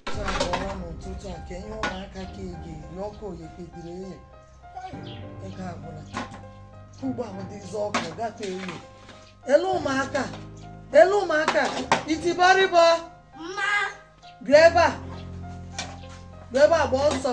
abụọla n'ụtụtụ a ka ihe ụmụaka ka ị ga-eri ọkụ oye kpebiri eye ego agwụla ugbu a bụdịzi ọkụ gafe eye elu ụmụaka elu ụmụaka itibọrịbọ m. bịa ebe a bịa ebe a gbaa ọsọ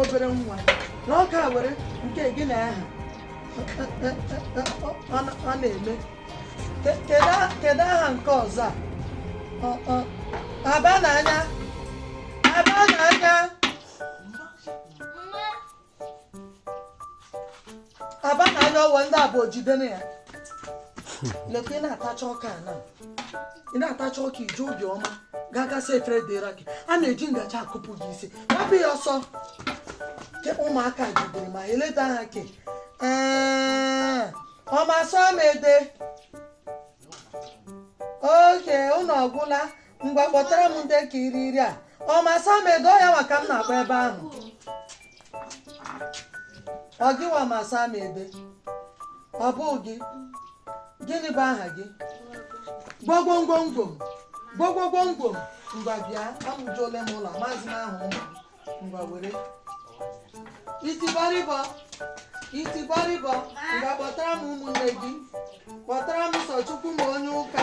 obere nwa na ọ ka were nke gịnị aha ọ na-eme kedu aha nke ọzọ a aba na anya aba na anya aba na anya ọwa ndị abụọ jidere ya lekwa ị na-atacha ọka na ị na-atacha ọka iji obi ọma gaa gasị efere dịra gị a na-eji ngaji akụpụ gị isi hapụ ya ọsọ ke ụmụaka jidere ma eleta ha ke ọma sọ m ede oge ụlọ ọgwụla ngwa kpọtara m ndị ka iri iri a ọ masa m ego ya maka m na-agba ebe ahụ ọ gịwa masa m ebe ọ bụ gị gịnị bụ aha gị gwogwongwongwom gwogwogwongwom ngwa bịa amụjuole m ụlọ maazị m ahụ ụmụ m ngwa were itibọrịbọ itibọrịbọ ngwa kpọtara m ụmụnne gị kpọtara m Sọchukwuma onye ụka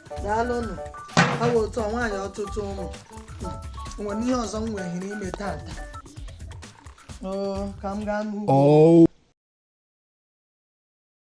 daalụnụ awa otu a nwaanyị ọtụtụ ụmụ nwere ihe ọzọ m nwere ime tata ka m gaa n'ugbo oh.